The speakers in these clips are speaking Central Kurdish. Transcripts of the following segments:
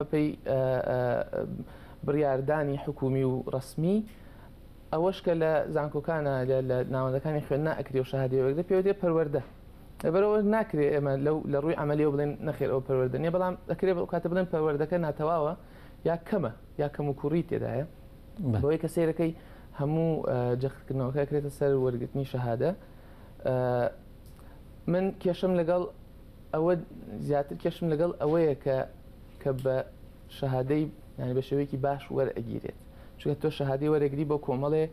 بەپێی بڕیاردانی حکومی و ڕەسمی ئەوەش کە لە زانکۆکانە لە ناوەندەکانی خوێندنا ئەکری و شەهادی وەرگرە پێوەێ پەروەەردە لەبەرەوە ناکرێت ئێمە لەو لە ڕووی عملیەوە بڵێن نەخێر ئەو پەروەەردە نیە بەڵام دەکرێ بە کاتە بڵێن پەروەەردەکە ناتەواوە یا کەمە یا کەم و کوڕی تێدایە بۆی کە سیرەکەی هەموو جەختکردنەوەکە کرێتە سەر وەرگرتنی شەهادە من کێشم لەگەڵ ئەوە زیاتر کێشم لەگەڵ ئەوەیە کە کە بە شەهادەی یانی بە شێوەیەکی باش وەرئەگیرێت چونکە تۆ شەهادەی وەرەگری بۆ کۆمەڵێ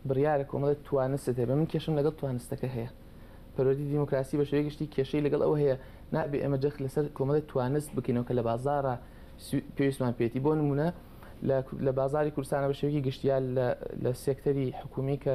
بڕیارە کۆمەڵێت توانست هەبێ من کێشم لەگەڵ توانستەکە هەیە پەروەردی دیموکراسی بە شێوەیە گشتی کێشەی لەگەڵ ئەوە هەیە نابێ ئێمە جەخ لەسەر کۆمەڵێت توانست بکەینەوە کە لە بازارە پێویستمان پێێتی بۆ نمونە لە بازاری کوردستانە بە شێوەیەکی گشتیال لە سێکتەری حکومی کە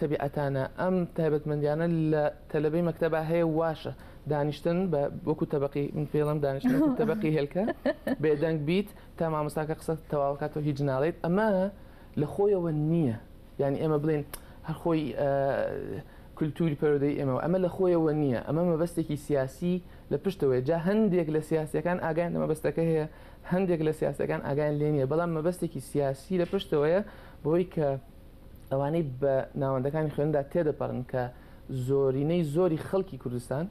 تەبیعەتانە ئەم تایبەتمەندیانە لە تەلەبەی مەکتەبا هەیە واشە دانیشتن بە وەکو تەبقی من پێڵم دانیشت تەبقی هێلکە بێدەنگ بیت تا مامۆساکە قسە تەواوکاتەوە هیچ ناڵێت ئەمە لە خۆیەوە نییە یعنی ئێمە بڵێن هەرخۆی کللتوری پەرۆدەی ئێمە ئەمە لە خۆیەوە نییە ئەمە مەبەستێکی سیاسی لە پشتەوەی جا هەندێک لە سیاسەکان ئاگیان لە مەبەستەکە هەیە هەندێک لە سیاسەکان ئاگیان لێ نیە بەڵام مەبەستێکی سیاسی لە پشتەوەیە بۆی کە ئەوانەی بە ناوەندەکانی خوێندا تێدەپەڕن کە زۆرینەی زۆری خەڵکی کوردستان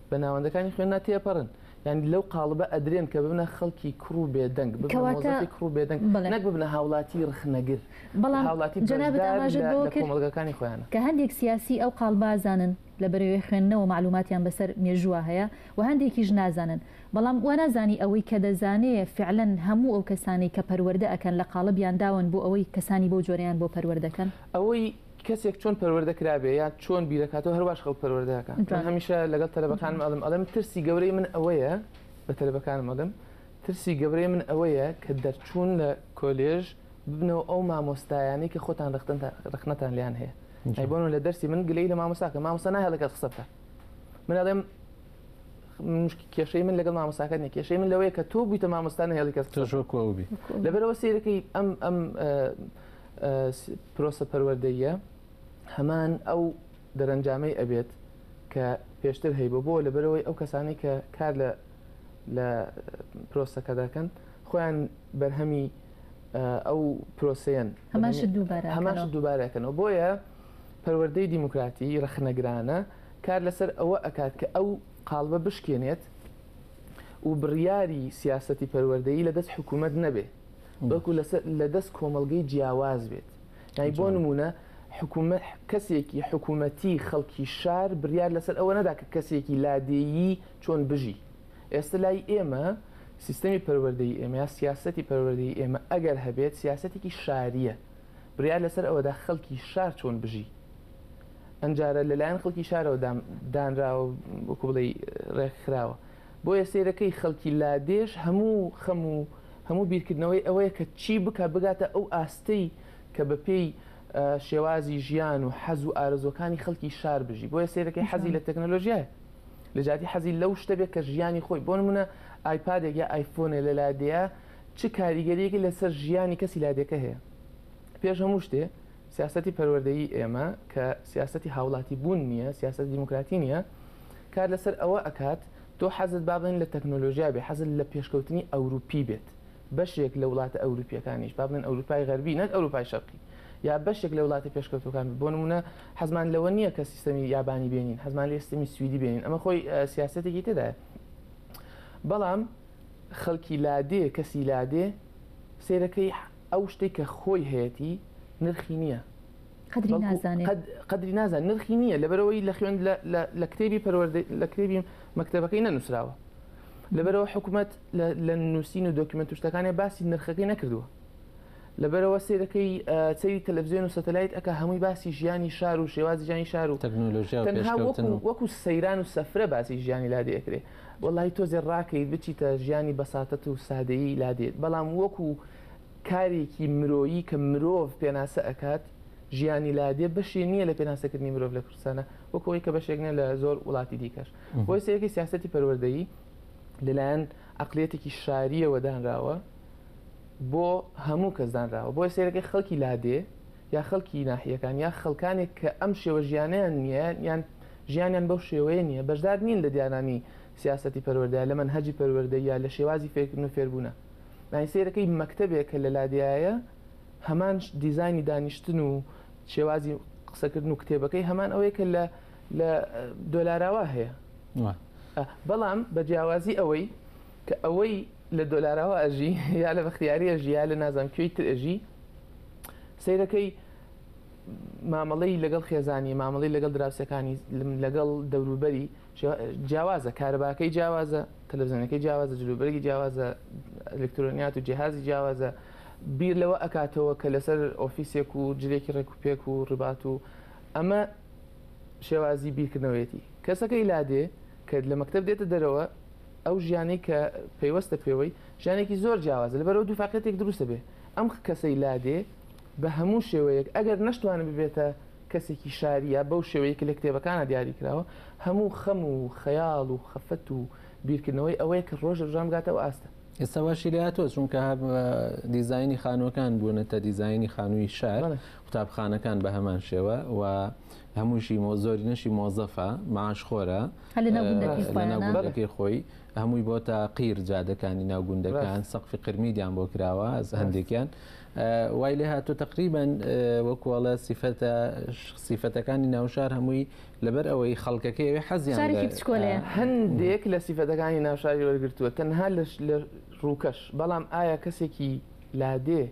بە ناوەندەکانی خوێننا تێپەڕن یعنی لەو قاڵبە ئەدرێن کە ببنە خەڵکی کوڕ و بێدەنگ بکەواتەی کوڕ و بێدەنگ نەک ببنە هاوڵاتی رخنەگر بەڵام هاوڵاتی جەنابەکانی خۆیان کە هەندێک سیاسی ئەو قاڵبازانن لە بەرەوەی خوێندنەوە مەعلوماتیان بەسەر مێژووا هەیە و هەندێکیش نازانن بەڵام وانازانی ئەوەی کە دەزانێ فعلەن هەموو ئەو کەسانەی کە پەروەردە ئەکەن لە قاڵبیان داون بۆ ئەوەی کەسانی بەو جۆرەیان بۆ پەروەردە کەن. ئەوەی کەسێک چۆن پەروەردە کرابێ یا چۆن بیرەکاتەوە هەرواش خەڵک پەروەردە ئەکا من هەمیشە لەگەڵ تەلەبەکانم ئەڵێم ئەڵێم ترسی گەورەی من ئەوەیە بە تەلەبەکانم ئەڵێم ترسی گەورەی من ئەوەیە کە دەرچوون لە کۆلێژ ببنەوە ئەو مامۆستایانەی کە خۆتان ڕەخنەتان لێیان هەیە ئەی بۆنە لە دەرسی من گلەی لە مامۆساکە مامۆسا نایە لەگەڵ قسە بکە من ئەڵێم کێشەی من لەگەڵ مامۆساکە نیە کێشەی من لەوەیە کە تۆ بوویتە مامۆستان هێڵی کەس تۆشۆکو ئەو بی لەبەرەوە سیرەکەی ئەم ئەم پرۆسە پەروەردەیە هەمان ئەو دەرەنجامەی ئەبێت کە پێشتر هەی بۆ بۆ لەبەرەوەی ئەو کەسانی کە کار لە لە پرۆسەکە دەکەن خۆیان بەرهەمی ئەو پرۆسەیەن هەمان شت دووبارە ئەکەنەوە، بۆیە پەروەردەی دیموکراتی ڕەخنەگرانە کار لەسەر ئەوە ئەکات کە ئەو قاڵبە بشکێنێت و بڕیاری سیاسەتی پەروەردەیی لەدەست حکوومەت نەبێ بەڵکو لەدەست کۆمەڵگەی جیاواز بێت، یانی بۆ نموونە حکوومەت کەسێکی حکوومەتی خەڵکی شار بڕیار لەسەر ئەوە نەدا کە کەسێکی لادێیی چۆن بژی. ئێستە لای ئێمە سیستەمی پەروەردەی ئێمە یا سیاسەتی پەروەردەی ئێمە ئەگەر هەبێت سیاسەتێکی شارییە بڕیار لەسەر ئەوەدا خەڵکی شار چۆن بژی ئەمجارە لەلایەن خەڵکی شارەوە دانراوە وەکو بڵێ ڕێکخراوە بۆیە سیرەکەی خەڵکی لادێش هەموو خەم و هەموو بیرکردنەوەی ئەوەیە کە چی بکە بگاتە ئەو ئاستەی کە بە پێی شێوازی ژیان و حەز و ئارزۆکانی خەڵکی شار بژی بۆیە سیرەکەی حەزی لە تەکنەلۆژیای لە جیاتی حەزی لەو شتە بێت کە ژیانی خۆی بۆ نموونە ئایپادێک یا ئایفۆنێ لە لادێیە چ کاریگەریەکی لەسەر ژیانی کەسی لادێکە هەیە پێش هەموو شتێ سیاستی پەروەردەی ئێمە کە سیاستی هاوڵاتی بوون نییە سیاست دیموکراتی نییە کار لەسەر ئەوە ئەکات تۆ حەزت بابن لە تەکنۆلۆژیا بێ حەزت لە پێشکەوتنی ئەوروپی بێت بەشێک لە وڵاتە ئەوروپییەکانیش، با بڵێین ئەوروپای غەربی نەک ئەوروپای شەرقی، یا بەشێک لە وڵاتە پێشکەوتووەکان بێت، بۆ نموونە حەزمان لەوە نییە کە سیستەمی یابانی بێنین، حەزمان لێیە سیستەمی سویدی بێنین، ئەمە خۆی سیاسەتێکی تێدایە. بەڵام خەڵکی لادێ، کەسی لادێ سەیرەکەی ئەو شتێک کە خۆی هەیەتی نرخی نییە. قدری نازانێ قدری نازان نرخی نییە لەبەرەوەی لە خوێن لە کتێبی پەروەردە لە کتێبی مەکتتەبەکەی نەنووسراوە لەبەرئەوە حکومەت لە نووسین و دۆکیمنت و شتەکانێ باسی نرخەکەی نەکردووە لەبەرەوە سێرەکەی سەیری تەلەڤزیۆن و سەتەلایت ئەک هەمووی باسی ژیانی شار و شێوازی ژانی شار و تەکنۆلۆژیا وەکو سەیران و سەفرە باسی ژیانی لا دەکرێ وەڵی تۆزێ ڕاکەی بچیتە ژیانی بەساتەت و سادەیی لا دێت بەڵام وەکو کارێکی مرۆیی کە مرۆڤ پێناسە ئەکات ژیانی لادێ بەشی نییە لە پێناسەکردنی مرۆڤ لە کوردستانە وەکۆی کە بەشێک نیە لە زۆر وڵاتی دیکەش بۆیە سەیرکەی سیاسەتی پەروەردەیی لەلایەن عەقلیەتێکی شارییەوە دانراوە بۆ هەموو کەس دانراوە بۆیە سەیرەکەی خەڵکی لادێ یا خەڵکی ناحیەکان یا خەڵکانێک کە ئەم شێوە ژیانیان نییە یان ژیانیان بەو شێوەیە نییە بەشدار نین لە دیارانی سیاسەتی پەروەردە لە مەنهەجی پەروەردە یا لە شێوازی فێرکردن و فێربوونە یانی سەیرەکەی مەکتەبێک کە لە لادێیایە هەمان دیزانی دانیشتن و شێوازی قسەکردن و کتێبەکەی هەمان ئەوەیە کە لە لە دۆلاراوا هەیە بەڵام بە جیاوازی ئەوەی کە ئەوەی لە دۆلاراوا ئەژی یا لە بەختیاریە ژیا لە نازانم کوێی تر ئەژی سیرەکەی مامەڵەی لەگەڵ خێزانی مامەڵی لەگەڵ دراوسەکانی لەگەڵ دەوروبەری جیاوازە کارەباکەی جیاوازە تەلەزیۆنەکەی جیاوازە جلوبەرگی جیاوازە ئەلکترۆنیات و جیهازی جیاوازە بیر لەوە ئەکاتەوە کە لەسەر ئۆفیسێک و جلێکی ڕێکوپێک و ڕبات و ئەمە شێوازی بیرکردنەوەیەتی کەسەکەی لادێ کە لە مەکتب دێتە دەرەوە ئەو ژیانی کە پەیوەستە پێوەی ژیانێکی زۆر جیاوازە لە بەرەو دووفاقەتێک دروستە بێ ئەم کەسەی لادێ بە هەموو شێوەیەک ئەگەر نەشتوانە ببێتە کەسێکی شاریە بەو شێوەیە کە لە کتێبەکانە دیاری کراوە هەموو خەم و خەیاڵ و خەفەت و بیرکردنەوەی ئەوەیە کە ڕۆژە ژان بگاتەوە ئاستە ئێستا واشی لە تۆ چونکە هەب دیزایانی خانووەکان بوونەتە دیزایانی خانووی شار قوتابخانەکان بە هەمان شێوە و هەمووشی مۆ زۆرینەشی مۆزەفە معاش خۆرە لەناوگوندەکەی خۆی هەمووی بۆ تا قیر جادەکانی ناوگوندەکان سەقفی قرمیدیان بۆ کراوە هەندێکیان وای لێ هاتو تقریبان وەکوڵە سیفەتە سیفەتەکانی ناوشار هەمووی لەبەر ئەوەی خەڵکەکەی حەزیان هەندێک لە سیفەتەکانی ناوشاری وەرگتووە تەنها لە ڕووکەش بەڵام ئایا کەسێکی لادێ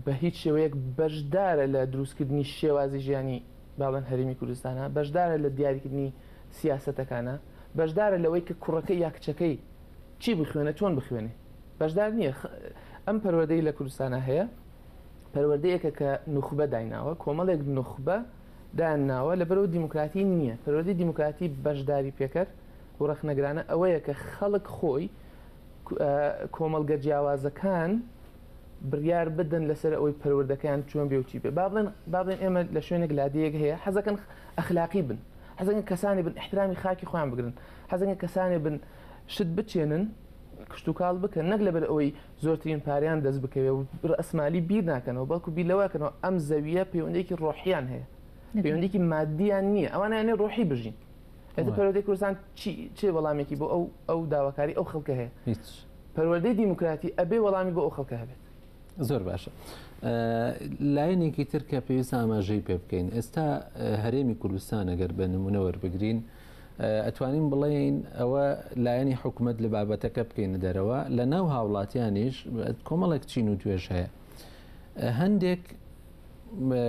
بە هیچ شێوەیەک بەشدارە لە دروستکردنی شێوازی ژیانی باڵێن هەرێمی کوردستانە بەشدارە لە دیاریکردنی سیاسەتەکانە بەشدارە لەوەی کە کوڕەکە یا کچەکەی چی بخوێنە چۆن بخوێنێ بەشدار نییە ئەم پەروەدەی لە کوردستانە هەیە پەروەردەیەکە کە نوخبە دایناوە کۆمەڵێک نوخبە دایان ناوە لە بەرەوە دیموکراتی نییە پەروەدەی دیموکراتی بەشداری پێکەر و ڕەخنەگرانە ئەوەیە کە خەڵک خۆی کۆمەڵگە جیاوازەکان بڕیار بدەن لەسەر ئەوەی پەروەردەکەیان چۆن بێ و چی بێ با بڵێن با بڵێن ئێمە لە شوێنێک لادەیەک هەیە حەزەکەن ئەخلاقی بن حەزەکەن کەسانی بن احترامی خاکی خۆیان بگرن حەزەکەن کەسانی بن شت بچێنن کشتتوکاڵ بکەن نەک لەبەر ئەوەی زۆرترین پاریان دەست بکەوێ و ئەسمالی بیر ناکەنەوە بەڵکو بیر لەوەکەنەوە ئەم زەویە پەیوەندێکی ڕۆحیان هەیە پەیوەندێکی مادیان نییە ئەوانیانێ ڕۆحی بژین ئێستا پەروەردەی کوردستان چی وەڵامێکی بۆ ئەو ئەو داواکاری ئەو خەڵکە هەیە هیچ پەروەردەی دیموکراتی ئەبێ وەڵامی بۆ ئەو خەڵکە هەبێت زۆر باشە لایەنێکی تر کە پێویست ئاماژەی پێ بکەین ئێستا هەرێمی کوردستان ئەگەر بە نمونە وەربگرین ئەتوانین بڵێین ئەوە لایەنی حکوومەت لە بابەتەکە بکەین دەرەوە لە ناو هاوڵاتیانیش کۆمەڵێک چین و توێش هەیە هەندێک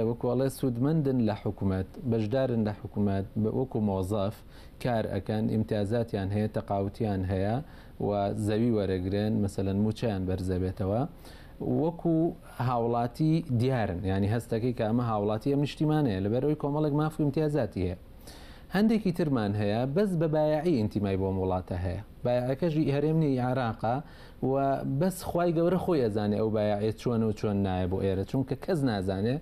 وەکو ئەڵێ سوودمەندن لە حکومەت بەشدارن لە حکومەت وەکو مۆزەف کار ئەەکەن ئیمتیازاتیان هەیە تەقاوتیان هەیە و زەوی وەرەگرن مەسەەن موچیان بەرزەبێتەوە وەکو هاوڵاتی دیارن ینی هەستەکەی کە ئەمە هاوڵاتی ئەم نیشتیمانەیە لەبەرەوەی کۆمەڵێک ماف و امتیازاتی هەیە هەندێکی ترمان هەیە بەس بە بایعی ئینتیمای بۆم وڵاتە هەیە بایعەکەژی هەرێمنی عراقا و بەس خوای گەورە خۆی ئەزانێ ئەو بایاعە چۆنە و چۆن نایە بۆ ئێرە چونکە کەس نازانێ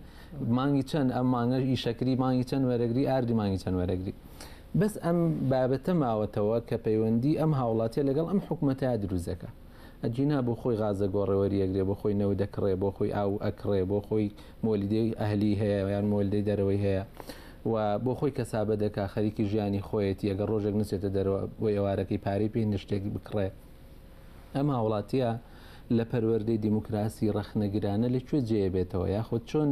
مانگی چەند ئەم مانگەش ئیشەکری مانگی چەند وەرەگری ئاردی مانگی چەند وەرەگری بەس ئەم بابەتە ماوەتەوە کە پەیوەندی ئەم هاوڵاتیە لەگەڵ ئەم حکوومەتە دروزەکە ئەجینا بۆ خۆی غازە گۆڕەوەری یەکرێ بۆ خۆی نەوە دەکڕێ بۆ خۆی ئاو ئەکڕێ بۆ خۆی مۆلیدەی ئەهلی هەیە یان مۆلدەی دەرەوەی هەیە و بۆ خۆی کەسابە دەکا خەریکی ژیانی خۆیەتی ئەگە ڕۆژێک نچێتە دەرەوە بۆ ئێوارەکەی پارەی پێ نشتێک بکڕێ ئەم هاوڵاتیە لە پەروەردەی دیموکراسی ڕەخنەگرانە لە کوێ جێ بێتەوە یاخود چۆن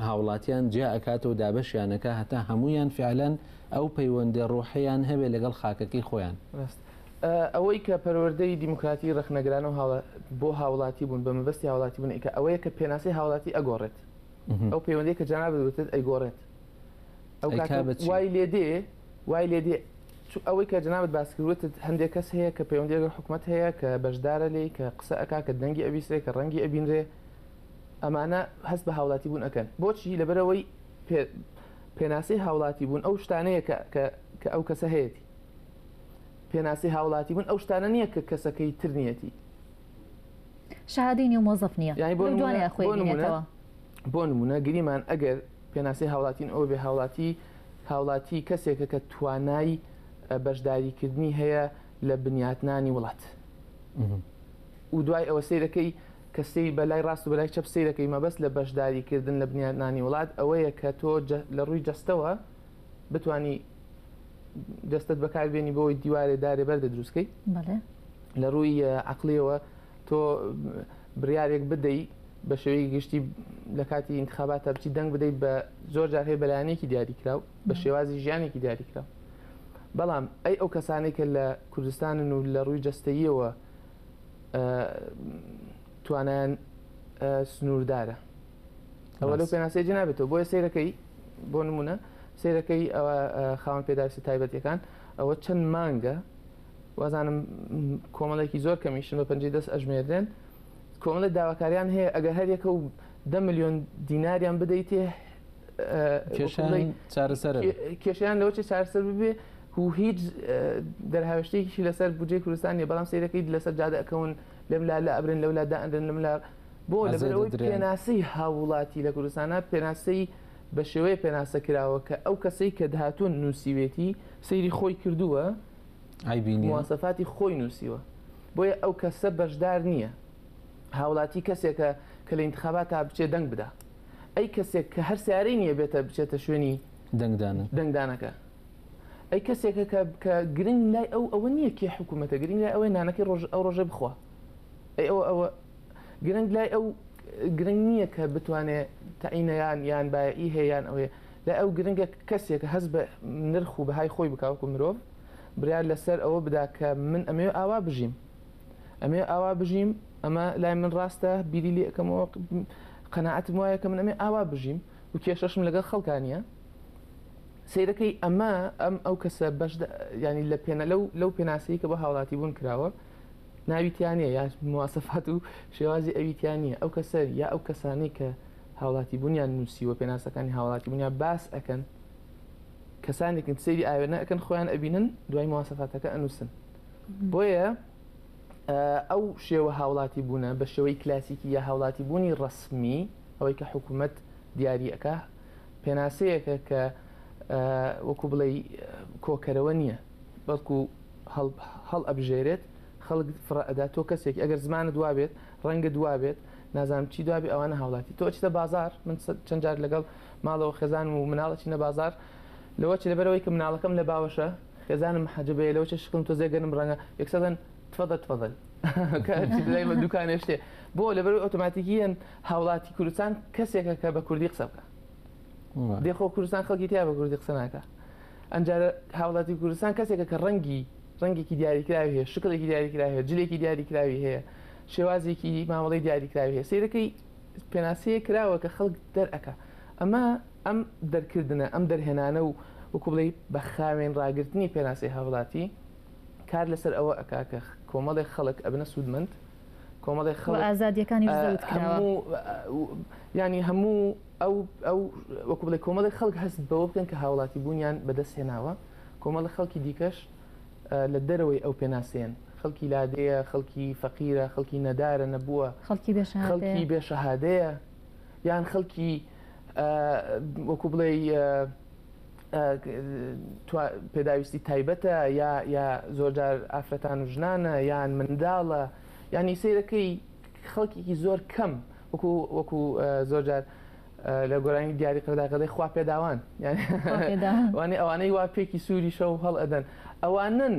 هاوڵاتیان جیا ئەکاتەوە دابەشیانەکە هەتا هەمویان فعلەن ئەو پەیوەندە ڕۆحیان هەبێ لەگەڵ خاکەکەی خۆیان ئەوەی کە پەروەردەی دیموکراتی ڕەخنەگرانە و بۆ هاوڵاتی بوون بە مەبەستی هاوڵاتی بوون ئیکە ئەوەیە کە پێناسی هاوڵاتی ئەگۆڕێت ئەو پەیوەندەی کە جانابێت ئەیگۆڕێت ئەو وای لێ دێ وای لێ دێ چو ئەوەی کە جەنابت باس کرد وتت هەندێک کەس هەیە کە پەیوەندی لەگەڵ حکومەت هەیە کە بەشدارە لێی کە قسە ئەکا کە دەنگی ئەبیسرێ کە ڕەنگی ئەبینرێ ئەمانە هەست بە هاوڵاتی بوون ئەکەن بۆچی لەبەرەوەی پێ پێناسەی هاوڵاتی بوون ئەو شتانەیە کە کە کە ئەو کەسە هەیەتی پێناسی هاوڵاتی بوون ئەو شتانە نییە کە کەسەکەی تر نیەتی شەهادەی نیو مۆزەف نییە یانی بۆ لەو دوانەیە نمونە خۆی بۆ نمونە بینێتەوە بۆ نمونە گریمان ئەگەر پێناسی هاوڵاتین ئەوە بێ هاوڵاتی هاوڵاتی کەسێکە کە توانای بەشداریکردنی هەیە لە بنیاتنانی وڵات و دوای ئەوە سیرەکەی کەسی بەلای ڕاست و بەلای چەپ سیرەکەی مەبەست لە بەشداریکردن لە بنیاتنانی وڵات ئەوەیە کە تۆ لە ڕووی جەستەوە بتانی دەستت بەکاربیێنی بۆی دیوارێ دارێ بەردە دروستکەی لە ڕووی عقلەوە تۆ بڕیارێک بدەی بە شێوەی گشتی لە کاتی انتخاباتە بچی دەنگ بدەیت بە زۆر جار هەیە بەلایەنێکی دیاریکراو بە شێوازی ژیانێکی دیاریکرا بەڵام ئەی ئەو کەسانێک کە لە کوردستانن و لە ڕووی جەستەیەوە توانیان سنووردارە ئەوە لەو پێناسەی جنابێتەوە بۆیە سیرەکەی بۆ نمونە سیرەکەی ئەوە خاوەن پێداویستە تایبەتەکان ئەوە چەند مانگە وازانم کۆمەڵێکی زۆر کەمیشن بە پەنجی دەست ئەژمێردرێن کۆمەڵێک داواکاریان هەیە ئەگەر هەریەکە و دە میلیۆن دیناریان بدەیتێ کێشیان لەوە چێ چارسەر ببێ و هیچ دەرهاوشتێکی لەسەر بجێ کوردستانی بەڵام سیرەکەی لەسەر جادەکەون لەم لا لە ئەبرن لەو لا دائەندن لەم لا بۆ لەبەرەوەی پێناسی هاوڵاتی لە کوردستانە پێناسی بەشێوەیە پێناسە کراوە کە ئەو کەسەی کە دهاتون نوسیوێتی سەیری خۆی کردووە مواسەفاتی خۆی نوسیوە بۆیە ئەو کەسە بەشدار نییە هاولاتی کەسێکە کە لە ئینتخابات تا بچێ دەنگ بدا ئەی کەسێک کە هەر سیارەی نییە بێتە بچێتە شوێنی دەنگدان دەنگدانەکە ئەی کەسێکە کە گرنگ لای ئەو ئەوە نییە کێ حکوومەتە گرنگ لای ئەوەی نانەکەی ڕۆژ ئەو ڕۆژێ بخوا ئەی ئەوە ئەوە گرنگ لای ئەو گرنگ نییە کە بتوانێت تەعینەیان یان بایەئی هەیەیان ئەوێ لای ئەو گرنگە کەسێک هەز بە نرخ و بەهای خۆی بکوکو مرۆڤ برار لەسەر ئەوە بدا کە من ئەمێ ئاوا بژیم ئەمێ ئاوا بژیم ئەمە لای من ڕاستە بیری لێ ئەەکەمەوە قەنەعەتم وایە کە من ئەمێ ئاوا بژیم و کێشەشم لەگەڵ خەڵکانە سیرەکەی ئەمە ئەم ئەو کەسە بەش ینی لە پێێنە لەو لەو پێناسەی کە بە هاوڵاتی بوون کراوە ناوی تیا نیە یا مواسەفات و شێوازی ئەوی تیا نیە ئەو کەسە یا ئەو کەسانەی کە هاوڵاتی بوونیان نووسیوە پێناسەکانی هاوڵاتی بوونیان باس ئەکەن کەسانێکن سەیری ئاوێنە ئەکەن خۆیان ئەبینن دوای مواسەفاتەکە ئەنووسن بۆیە ئەو شێوە هاوڵاتی بوونە بە شێوەی کلاسیکی یا هاوڵاتی بوونی ڕسمی ئەوەی کە حکوومەت دیارریەکە پێناسەیەکە کە وەکو بڵێ کۆکەرەوە نییە بەڵکو هەڵ ئەبژێرێت خەڵک فڕە ئەدا تۆ کەسێکی ئەگەر زمانت وابێت ڕەنگت وابێت نازانم چی دوابێ ئەوانە هاوڵاتی تۆ ئەچیتە بازار من چەند جار لەگەڵ ماڵەوە خێزانم و مناڵ ئەچینە بازار لەوە چ لەبەرەوەی کە مناڵەکەم لە باوەشە خێزانم محەجەبەیە لەوە چ شکڵم تۆزێ گەنم ڕەنگە یەکسەدەن تفەدە تفەدەل کە هەرچی لای بە دوکانێ شتێ بۆ لەبەر ئۆتۆماتیکیەن هاوڵاتی کوردستان کەسێکە کە بە کوردی قسە بکە دێخۆ کوردستان خەڵکی تیا بە کوردی قسە ناکە ئەمجارە هاوڵاتی کوردستان کەسێکە کە ڕەنگی ڕەنگێکی دیاریکراوی هەیە شکلێکی دیاریکراوی هەیە جلێکی دیاریکراوی هەیە شێوازێکی مامەڵی دیاریکراوی هەیە سیرەکەی پێناسەیە کراوە کە خەڵک دەرەکە ئەمە ئەم دەرکردنە ئەم دەرهێنانە و وکوڵی بە خاوێن ڕاگررتنی پێناسی هاوڵاتی کار لەسەر ئەوە ئەکاکە کۆمەڵێک خەڵک ئەبنە سوودمەند کۆمەڵێک خەڵک ئازادیەکانی ینی هەموو ئەو ئەو وەکو بڵێ کۆمەڵی خەڵک هەست بەوە بکەن کە هاوڵاتی بوونیان بەدەست هێناوە کۆمەڵە خەڵکی دیکەش لە دەرەوەی ئەو پێناسەیەن خەڵکی لادێیە خەڵکی فەقیرە خەڵکی نەدارە نەبووە خەڵکی بێ خەڵکی بێ شەهادەیە یان خەڵکی وەکو بڵێ پێداویستی تایبەتە یا یا زۆرجار ئافرەتان و ژنانە یان منداڵە ینی سیرەکەی خەڵکیی زۆر کەم وەکو وەکو زۆرجار لە گۆرانی دیاری قەداقەدەی خوا پێداوان وانێ ئەوانەی وا پێکی سووری شە و هەڵ ئەدەن ئەوانن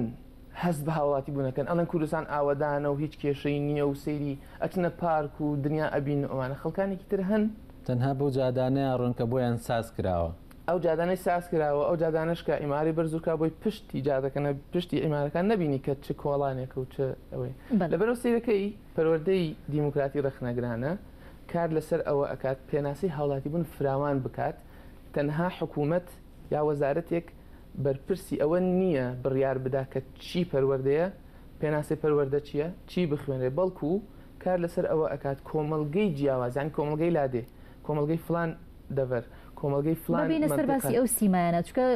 هەست بە هاوڵاتی بوونەکەن ئەڵەن کوردستان ئاوەدانە و هیچ کێشەی نییە و سەیری ئەچنە پارک و دنیا ئەبین و ئەوانە خەڵکانێکی تر هەن تەنها بەو جادانەیە ڕۆنکە بۆیان ساز کراوە. ئەو جادانەی ساز کراوە ئەو جادانشکە ئیماری بەرزورکە بۆی پشتی جادەکەنە پشتی ئیمارەکان نبینی کە چ کۆڵانێک و چ ئەوەی لەبەرەوە سیرەکەی پەروەردەی دیموکراتی ڕەخنەگرانە کار لەسەر ئەوە ئەکات پێناسەی هاوڵاتیبوون فراوان بکات، تەنها حکومەت یا وەزارەتێک بەرپرسی ئەوە نییە بڕیار بدا کە چی پەروەردەیە، پێناسەی پەروەردە چییە، چی بخوێنرێت، بەڵکو کار لەسەر ئەوە ئەکات کۆمەڵگەی جیاواز یانی کۆمەڵگەی لادێ، کۆمەڵگەی فڵان دەڤەر، کۆمەڵگەی فڵان مەنتیقە. ببینە سەر باسی ئەو سیمایانە، چونکە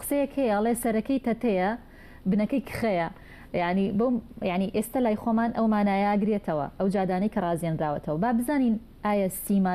قسەیەک هەیە ئەڵێ سەرەکەی تەتەیە، بنەکەی کخەیە یانی بەو یانی ئێستە لای خۆمان ئەو مانایە گرێتەوە ئەو جادانەی کە ڕازێنراوەتەوە با بزانین ئایا سیما